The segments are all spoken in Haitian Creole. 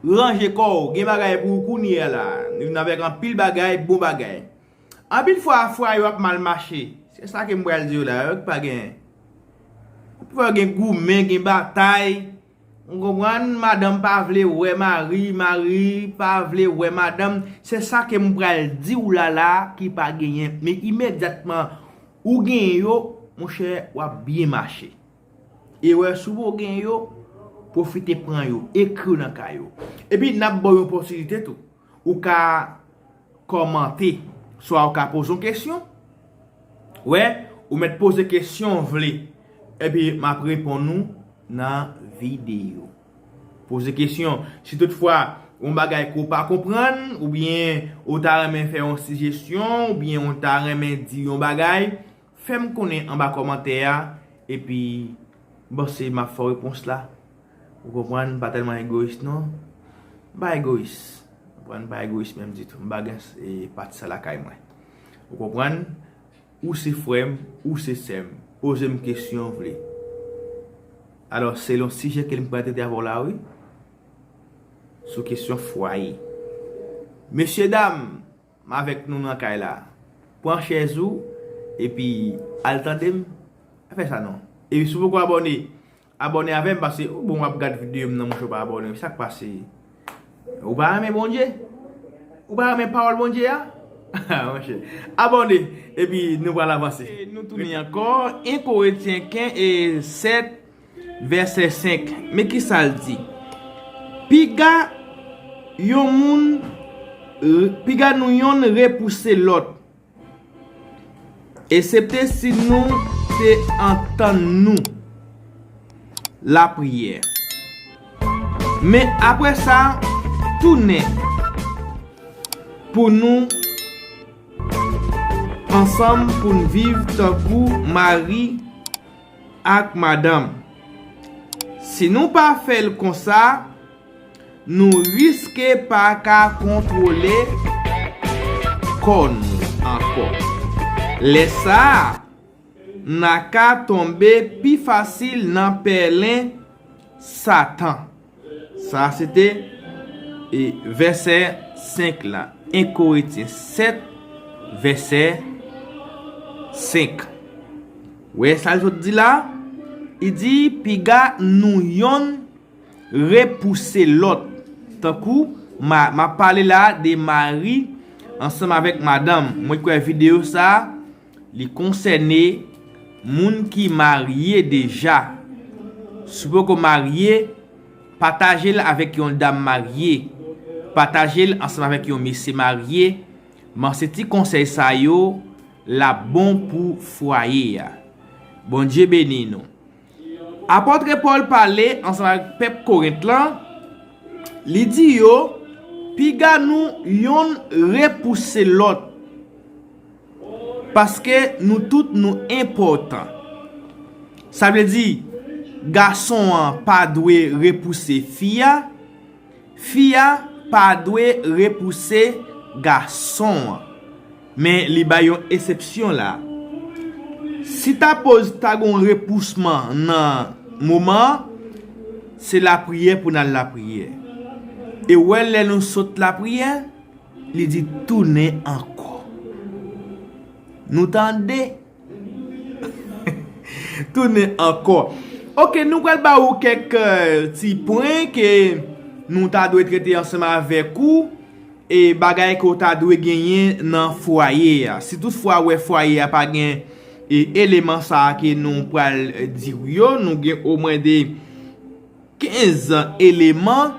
Ranje kò w, gen bagay pou ou kounye a la. Nou vin avèk anpil bagay, bon bagay. Anpil fwa, fwa yo ap mal mache. Se sa ke m pral di yo la. Yo k pa gen. Anpil fwa gen goumen, gen batay. Ou konprann? Madanm pa vle wè mari, mari pa vle wè madanm. Se sa ke m pral di w la la ki pa genyen. Men imedyatman ou genyen yo, monchè, w ap byen mache. Erè sou ou gen yo, pwofite pran yo, ekri yo nan kay ou. Epi n ap ba w yon opòtinite tou. Ou ka kòmante, swa ou ka poze yon kesyon. Wè, ou mèt poze kesyon ou vle. Epi m ap reponn ou nan videyo. Poze kesyon. Si tout fwa yon bagay ke w pa konprann, oubyen ou ta renmen fè yon sijesyon, oubyen ou ta renmen di yon bagay, Fèm konnen anba kòmantè a epi m panse map fè w repons la ou konprann m pa tèlman egoyis non m pa egoyis ou konprann m pa egoyis menm ditou m pa gen pati sa lakay mwen ou konprann ou se frè m ou se sè m poze m kesyon w vle alò se yon sijè ke m pral trete avè w la wi sou kesyon fwaye mesye dam M avèk nou nan kay la. Pran chèz ou epi al tande m pa fè sa non. Epi si w poko abòne abòne avè m pase ou bon w ap gad videyo m nan mouche w pa abòne sa k pase ou pa renmen Bondye ou pa renmen pawòl Bondye a haa monchè abòne epi nou pral avanse. Nou tounen ankò 1 koretyen ken 7. Vèsè 5, men ki sa l di, Piga yon moun, piga nou yonn repouse lòt, esepte si nou te antann nou. Lapriyè. Men apre sa, tounen pou nou ansanm pou n viv tankou mari. ak madanm. Si nou pa fè l konsa, nou riske pa ka kontwole kò nou ankò. Lè sa a, n a ka tonbe pi fasil nan pèlen Satan. Sa a se te vèsè 5 la. 1 Korentyen 7, vèsè 5. Ou wè sa l sot di la? Li di, Piga nou youn repouse lòt. Tankou, m ap pale la a de mari ansanm avèk madanm. Mwen kwè videyo sa a. Li konsène moun ki marye deja. Si w poko marye, pataje l avèk yon dam marye. Pataje l ansanm avèk yon mesye marye. M'en se ti konsèy sa yo l'ap bon pou fwaye a. Bondye beni nou. Apôtre Paul pale ansanm avèk pèp Korent lan, li di yo, Piga nou yonn repouse lòt. Paske nou tout nou enpòtan. Sa vle di, gason an pa dwe repouse fi a, fi a pa dwe repouse gason an. Men li bay yon esepsyon la. Si ta poz ta gen yon repousman nan moman an, se lapriyè pou n al lapriyè. E ou wè lè nou sot lapriyè. Li di tounen ankò. Nou tande? Tounen ankò. Ok, nou pral ba ou kèk ti pwen ke nou ta dwe trete ansanm avèk ou. E bagay ke ou ta dwe genyen nan fwaye a. Si tout fwa ou wè fwaye a pa gen eleman sa a ke nou pral di ou yo, nou gen omwen de. 15 eleman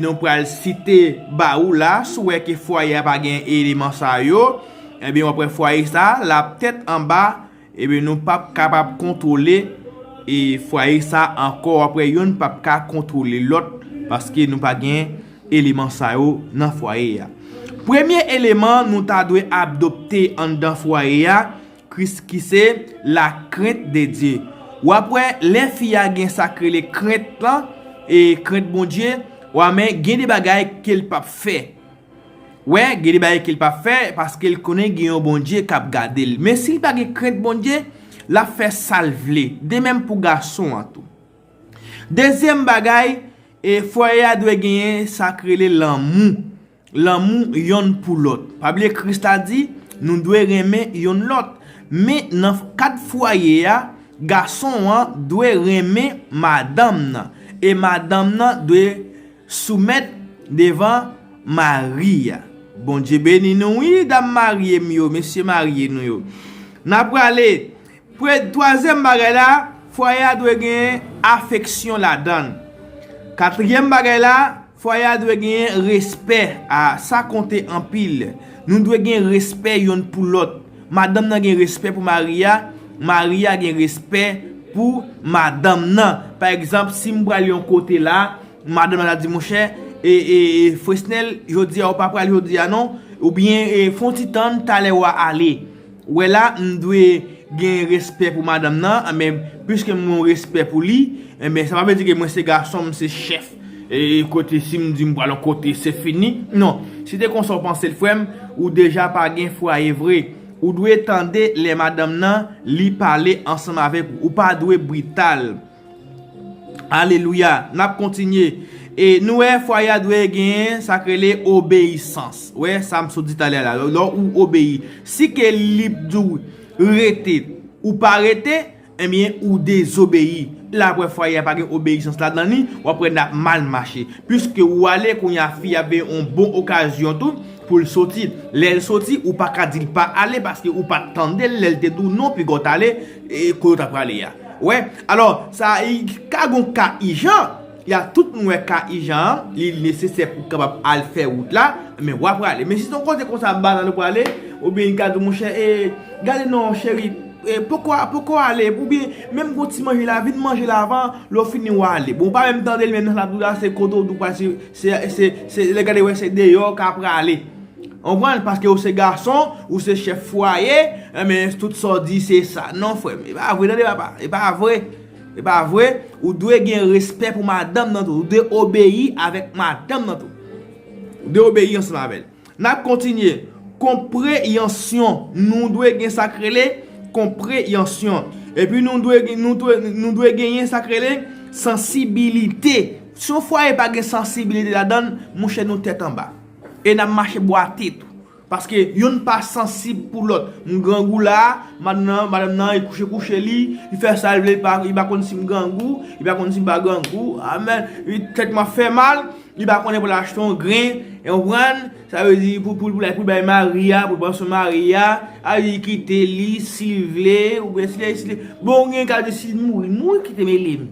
nou pral site ba ou la, si w wè ke fwaye a pa gen eleman sa yo, ebyen w ap wè fwaye sa a l ap tèt anba, ebyen nou p ap kapab kontwole fwaye sa a ankò, w ap wè youn p ap ka kontwole lòt paske nou pa gen eleman sa yo nan fwaye a. Premye eleman nou ta dwe adopte anndan fwaye a, Kris ki se lakrent de Dye. W ap wè lè fi a gen sa k rele krent lan, krent Bondye, wa men gen de bagay ke l p ap fè. Wè, gen de bagay ke l p ap fè paske l konnen gen yon Bondye k ap gade l. Men si l pa gen krent Bondye, l ap fè sa l vle. De menm pou gason an tou. Dezyèm bagay, fwaye a dwe genyen sa k rele lanmou. Lanmou yonn pou lòt. Pa bliye Kris la di, nou dwe renmen yonn lòt. Men nan kad fwaye a, gason an dwe renmen madanm nan, e madanm nan dwe soumèt devan mari a. Bondye beni nou wi dam marye m yo, mesye marye nou yo. N a prale, pre, twazyèm bagay la, fwaye a dwe gen afeksyon ladan l. Katriyèm bagay la. Fwaye a dwe gen respè a, sa konte anpil. Nou dwe gen respè yonn pou lòt. Madanm nan gen respè pou mari a, mari a gen respè pou madanm nan. Pa egzanp, si m pral yon kote la, madanm nan ta di monchè, e, e, e, Fresnel, jodi a ou pa pral jodi a non, oubyen, e, fon ti tann, talè wa ale. wè la m dwe gen respè pou madanm nan men piske m gen yon respè pou li sa pa vle di ke mwen se gason m se chèf kote si m di m pral yon kote se fini non si se konsa w panse l frè m ou deja pa gen fwaye vre ou dwe tande lè madanm nan li pale ansanm avèk ou ou pa dwe brital. Alelouya Nap kontinye E nou wè fwaye a dwe gen Sak rele obeyisans Ou wè sa m sot di talè la Lè ou obeyi Si ke li p di w rete Ou pa rete Ebyen ou dezobeyi La wè fwaye a pa gen obeyisans la nan li Wap wè nap mal mache Piske ou ale Kounye a fi a ap gen yon bon okazyon tou Pou l soti Lè l soti Ou pa ka di l pa ale Paske ou pat tande l Lè l te di w non Piga w t ale Ko yo ta prale ya. Wè. Alò, sa i ka gon ka ijan. Ya tout moun wè ka ijan an, li nesesè pou kapab al fè wout la, men wa prale. Men si son kote konsa banal ou prale, ou byen li ka di w monchè, e, gade non cheri, e, poko, poko ale, ou byen, menm gon ti manje la, vin manje la avan, lè w fini wa ale. Bon ou pa menm tande li menm nan sa lap di w la, se kote w di w pral se, se, se, se, lè gade wè se deyò w ka prale. Konprann paske ou se gason ou se chèf fwaye enben tout sa w di se sa non frèm e pa vre tande papa e pa vre e pa vre ou dwe gen respè pou madanm nan tou ou dwe obeyi avèk madanm nan tou ou dwe obeyi ansanm avè l nap kontinye konpreyansyon nou dwe gen sa k rele konpreyansyon epi nou dwe nou dwe genyen sa k rele sansibilite si yon fwaye pa gen sansibilite ladan l mouche nou tèt anba. E nap mache bwate tou. Paske youn pa sansib pou lòt. M grangou la, madanm nan e kouche kouche li, li fè sa l vle, li pa konn si m grangou, li pa konn si m pa grangou, amen. Tèt mwen fè mal, li pa konnen pou l achte yon gren, e konprann? Sa vle di pou l al pou l bay mari a, pou l pran swen mari a, sa vle di kite li si l vle, oubyen si l deside, bon gen ka di si l mouri, mouri kite m e li m.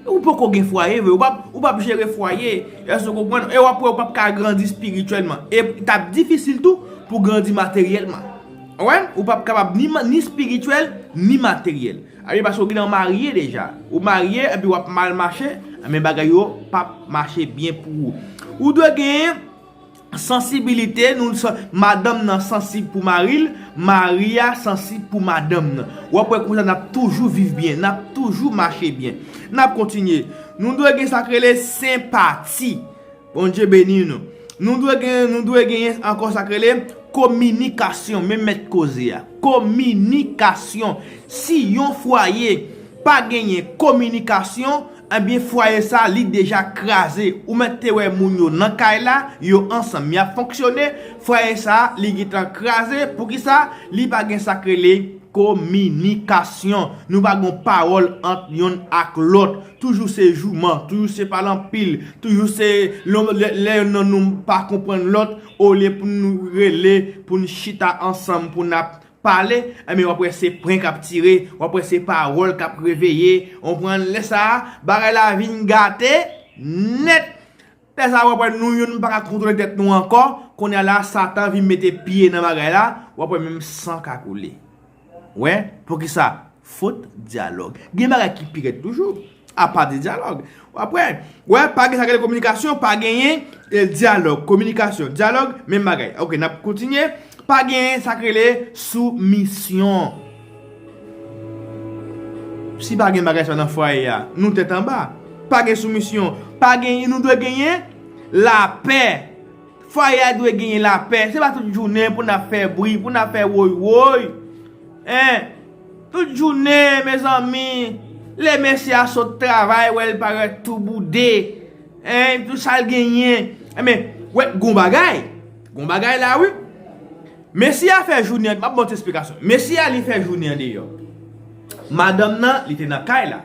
Ou poko gen fwaye vre, ou pap jere fwaye, èske ou konprann, e wap wè ou pap ka grandi spirityèlman, e tap difisil tou pou grandi materyèlman. Ou wè, ou pap kapab ni spirityèl, ni materyèl. A byen pase ou gnlè marye deja, ou marye epi wap mal mache, a byen bagay yo pap mache byen pou ou. Ou dwe gen. Sansibilite nou Madanm nan sansib pou mari l Mari a sansib pou madanm nan W ap wè konsa n ap toujou viv byen N ap toujou mache byen N ap kontinye Nou dwe gen sa k rele senpati Bondye beni nou Nou dwe gen Nou dwe genyen ankò sa k rele kominikasyon Men mèt koze a Kominikasyon Si yon fwaye pa genyen kominikasyon Ebyen fwaye sa li deja kraze ou mèt te wè moun yo nan kay la yo ansanm yap fonksyone fwaye sa li gintan kraze poukisa li pa gen sak rele kominikasyon nou pa gon pawòl ant yonn ak lòt toujou se jouman toujou se pale anpil toujou se lè yonn nan nou pa konprann lòt olye pou nou rele pou nou chita ansanm pou nap pale enben wap wè se pren kap tire wap wè se pawòl kap reveye onprann lè sa bagay la vin gate nèt lè sa wap wè nou youn paka kontwole tèt nou ankò konnya la satan vin mete pye nan bagay la wap wè menm san ka koule wè poukisa Fot dyalòg. Gen bagay ki pi rèd toujou. A pa de dyalòg. Ou ap wè. Ou wè, pa gen sa ki rele kominikasyon, pa genyen dyalòg, kominikasyon, dyalòg, menm bagay. Ok, n ap kontinye. Pa genyen sa ki rele soumisyon. Si pa gen bagay sa nan fwaye a, nou tèt anba. Pa gen soumisyon. Pa genyen, nou dwe genyen lapè. Fwaye a dwe genyen lapè, se pa tout jounen pou n ap fè bri, pou n ap fè woy woy. Hein! Tout jounen mezanmi, lè mesye a sot travay wè l parèt tou boude, hein, tout sa l genyen. Enben, wè gon bagay, gon bagay la wi. Mesye a fè jounen, m ap ba w ti esplikasyon. Mesye a li fè jounen an deyò. Madanm nan li te nan kay la.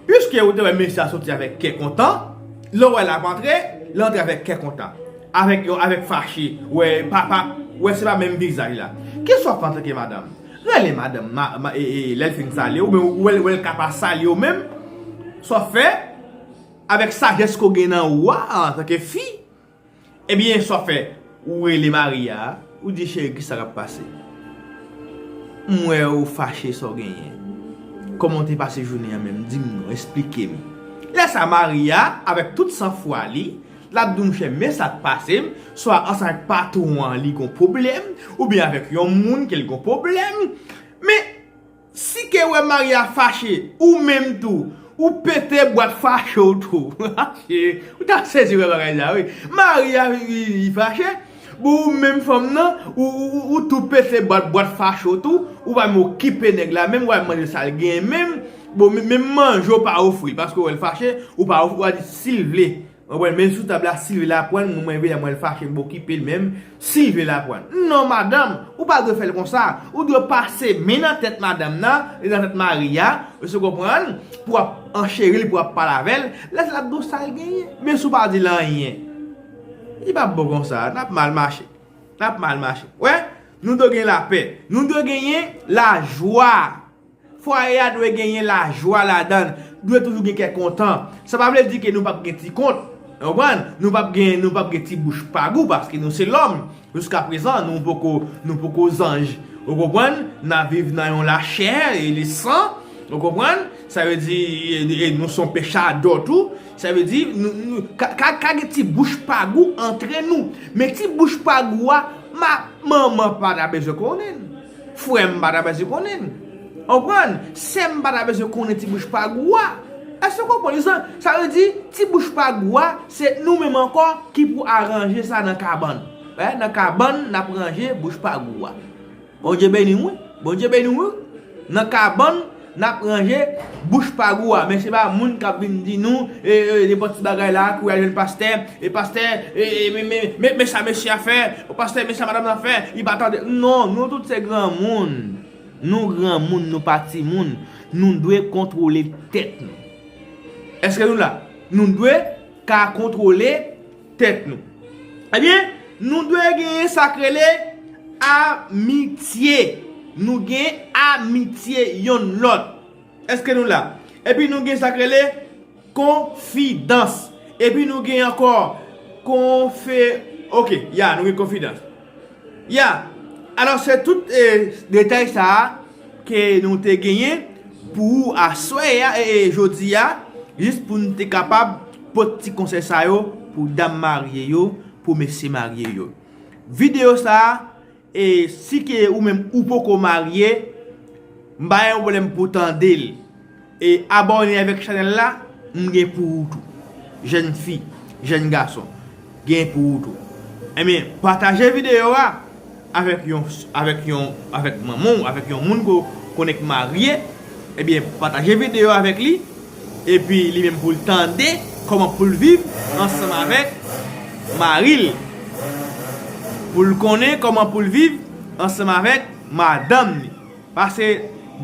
Piske ou te wè mesye a soti avèk kè kontan, lè ou wè l ap antre, li antre avèk kè kontan. Avèk yon avèk fache, wè pa pa, wè se pa menm vizaj la. Kisa w ap fè antanke ke madanm? Rele madanm, ma, ma, e, e, lè l fin salye ou, men ou wè l, wè l ka pa salye ou menm, sa w fè, avèk sajès ke w gen nan ou a, antanke fi, Ebyen sa w fè ou rele Maria a ou di cheri kisa kap pase m wè ou fache sa w genyen kòman w te pase jounen an menm di m non esplike m lè sa Maria avèk tout san fwa li lap di w monchè men sak pase m swa ansanm avèk patwon an li gon pwoblèm oubyen avèk yon moun ke l gon pwoblèm men Si ke we maria fache ou menm tou ou pete bwat fache w tou ou ta sezi we bagay sa wi maria li fache bon ou menm fanm nan ou tou pete bwat fache w tou ou pa menm okipe neg la menm wal mande sal gen menm bon menm manje w pa ofri paske ou wel fache ou pa ofri wal di sil vle. Mwen wèl menm sou tab la sil vle la pranl mwen mwen vle mwen fache mwen okipel menm sil vle la pranl non madanm ou pa dwe fèl konsa ou dwe pase men nan tèt madanm nan e nan tèt mari a es ou konprann pou wap an cheril pou wap pale avèl lèsa lap diw sal genyen menm si ou pa dil anyen li pap bon konsa nap mal mache nap mal mache wè nou dwe gen lapè nou dwe genyen lajwa. Fwaye a dwe genyen lajwa ladan l, dwe toujou gen kè kontan. Sa pa vle di ke nou p ap gen ti kont, ou konprann, nou p ap gen, nou p ap gen ti bouch pa gou paske nou se lòm. Jiskaprezan nou poko, nou poko zanj. Ou konprann? N ap viv nan yon lachè e le san. Ou konprann? Sa vle di, e nou son pechadò tou. Sa vle di, ka ka gen ti bouch pa gou antre nou. Men ti bouch pa gou a, ma manman pa ta bezwen konnen l. Frè m pa ta bezwen konnen l. Ou konprann? Sè m pa ta bezwen konnen ti bouch pa gou a. Èske ou konprann? Sa vle di, ti bouch pa gou a, se nou menm ankò ki pou aranje sa nan kabann. Wè, nan kabann n ap ranje bouch pa gou a. Bondye beni w wi. Bondye beni w wi. Nan kabann. Nap ranje bouch pa gou a men se pa moun kap vin di nou nenpòt ti bagay la pou al jwenn pastè e pastè men sa mesye a fè o pastè men sa madam nan fè li pa tande non nou tout se granmoun nou granmoun nou pa timoun nou dwe kontwole tèt nou eske nou la nou dwe ka kontwole Tèt nou. Ebyen, nou dwe genyen sa k rele amitye. Nou gen amitye yonn lòt. Eske nou la? Epi nou gen sa k rele konfidans. Epi nou gen ankò konfe... Ok, ya, nou gen konfidans. Ya! Alò se tout detay sa a ke nou te genyen pou ou aswè a, jodi a, jis pou nou te kapab pot ti konsèy sa yo pou dam marye yo, pou mesye marye yo. Videyo sa a, e si ke ou menm ou poko marye, m pa gen yon pwoblèm pou w tande l. E abòne avèk chanèl la m gen pou ou tou jèn fi jèn gason gen pou ou tou enben pataje video a avèk yon avèk yon avèk manman w avèk yon moun ke w konnen k marye ebyen pataje video a avèk li epi li menm pou l tande kòman pou l viv ansanm avèk mari l pou l konnen kòman pou l viv ansanm avèk madanm li. Paske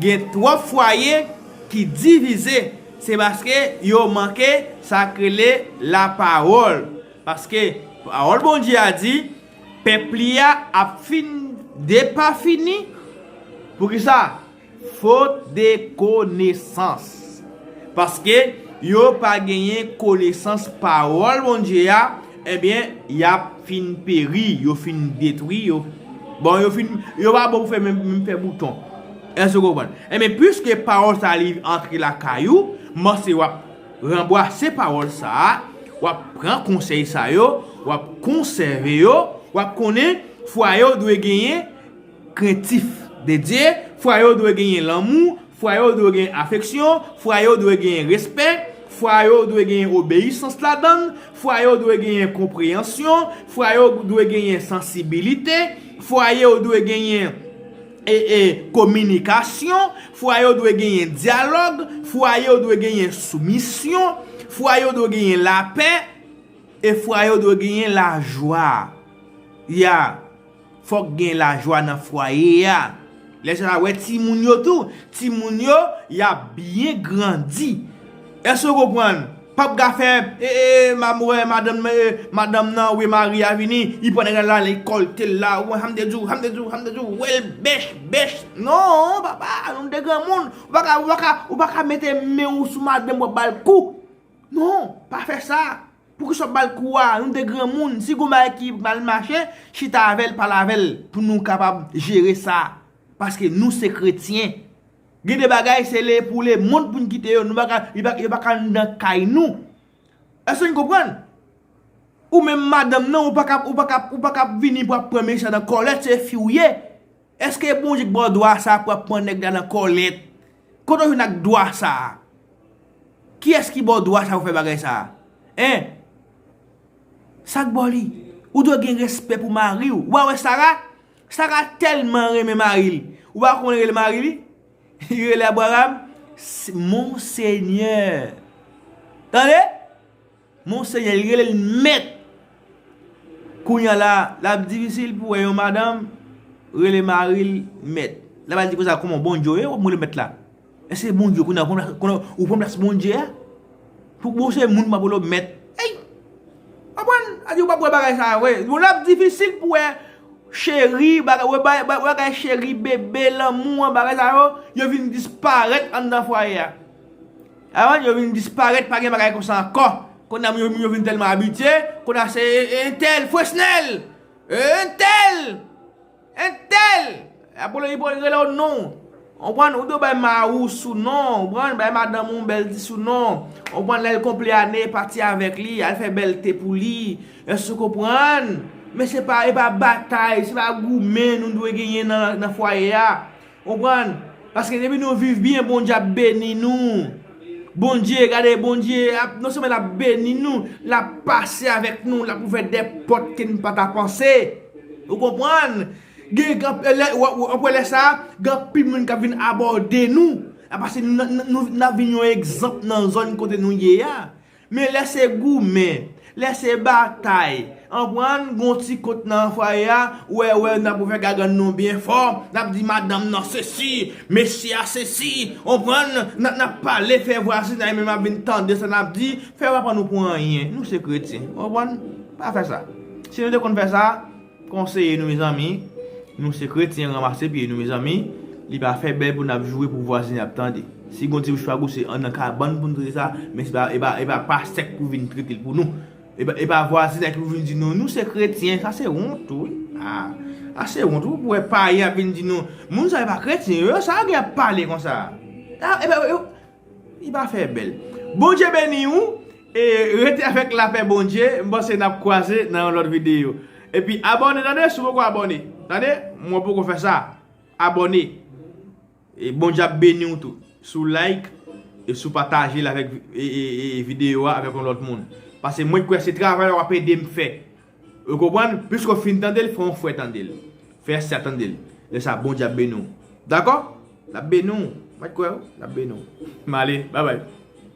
gen twòp fwaye ki divize se paske yo manke sak rele la pawòl paske pawòl Bondye a di pèp li a ap fin depafini poukisa fot de konesans paske yo pa genyen konesans pawòl Bondye a Ebyen yap fin peri yo fin detwi yo bon yo fin yo pa bon pou fè menm fè bouton èske ou konprann ebyen piske pawòl sa li antre lakay ou m panse wap ranbwase pawòl sa wap pran konsèy sa yo wap konsève yo wap konnen fwaye ou dwe genyen krentif de Dye, fwa yo dwe genyen lanmou, fwa yo dwe genyen afeksyon, fwa yo dwe genyen respè, fwa yo dwe genyen obeyisans ladan l, fwa yo dwe genyen konpreyansyon, fwa yo dwe genyen sansibilite, fwa yo dwe genyen kominikasyon, fwa yo dwe genyen dyalòg, fwa yo dwe genyen soumisyon, fwa yo dwe genyen lapè, e fwa yo dwe genyen lajwa. Ya. Fòk gen lajwa nan fwaye a. Lè sa wè timoun yo tou. Timoun yo y ap byen grandi. Èske w konprann? Pap ka fè ee map wè madanm nan ee madanm nan oubyen mari a vini li pran nèg la li kòlte l la ou ham de di w ham de di w ham de di w wè l bèch bèch non papa nou de granmoun ou pa ka ou pa ka mete men w sou madanm w ap ba l kou non pa fè sa. Poukisa wap bal kou a, nou 2 granmoun, si gon bagay ki mal mache, chita avèl pale avèl pou nou kapab jere sa, paske nou se kretyen. Gen de bagay se le pou le mond poun kite yo, nou paka, yo paka anndan kay nou. Eske nou konprann? Ou menm madanm nan ou paka, ou paka, ou paka vini pou ap pran mechan nan kòlèt se fi ou ye. Eske bon jan bò dwa sa pwap pwan nèg la nan kòlèt kote ou jwenn ak dwa sa kiyès ki bò dwa sa pou fè bagay sa hein sak bò li ou dwe gen respè pou mari ou wa wè sara sara tèlman renmen mari li ou pa wè kòman li rele mari li li rele abraram monseigneur tande. Monseyè li relel mèt. Kounya la lap difisil pou wè yon madanm rele maril mèt. Lap al di konsa kòman Bondye ye wap rele mèt la. Eske Bondye kounya ou pran plas Bondye a? Pou bon se moun map rele w mèt. Eyy! Konprann? Sa vle di ou pap wè bagay sa yo vre. Bon lap difisil pou wè cheri bagay wè bagay cheri bebe lanmou an bagay sa yo yo vin disparèt anndan fwaye a. Avan yo vin disparèt pa gen bagay konsa ankò Konnya moun yo vin tèlman abitye Konnya se entèl Fresnel Entèl Entèl Apre li pral rele w non Ou konprann ou dwe bay mari w sou non Ou konprann bay madanm ou yon bèl ti sou non Ou konprann lè l konple ane pati avèk li al fè bèl te pou li Èske ou konprann Men se pa e pa batay se pa goumen nou dwe genyen nan fwaye a. Konprann paske depi nou viv byen bondye ap beni nou bondye gade bondye ap non sèlman lap beni nou lap pase avèk nou lap ouvè dè pòt ke nou pata panse ou konprann gen anpwen lè sa gen anpil moun kap vin abòde nou paske nou nap vin yon egzanp nan zòn kote nou ye a Men lè se goumen, lè se batay, anpwen an n gon ti kont nan fwaye a, wè wè n ap ouvè gagann nou byen fò, n ap di madanm nan sesi, mesye a sesi, anpwen an n, n ap pale fè vwazinay menm ap vin tande sa n ap di, fè yo pa pran nou pou anyen, nou se kretyen, anpwen an, pa fè sa. Si nou te konn fè sa. Konseye nou mezanmi nou se kretyen ranmase pye nou mezanmi li pa fè bèl pou nap joure pou vwazin ap tande si gon ti bouchpagou se nan kabann poun trete sa men se pa epa pastèk pou vin tretel pou nou epa vwazinay ki pou vin di nou nou se kretyen sa se wont wi aa se wont wi pou wè payen ap vin di nou moun sa yo pa kretyen yo sa yo gen ap pale konsa epa yo Li pa fè bèl. Bondye beni ou e rete avèk lapè Bondye m panse nap kwaze nan yon lòt video epi abòne tande si w poko abòne tande mwen poko fè sa abòne e Bondye ap beni w tou si w like e si w pataje l avèk video a avèk yon lòt moun pase mwen kwè se travay la wap ede m fè. Ou konprann? Piske w fin tande l, fè yon fwè tande l. Fè ase a tande l. Lè sa a, Bondye ap beni w. Dakò? L ap beni w. Mwen kwè w. L ap beni w. M ale. Baybay.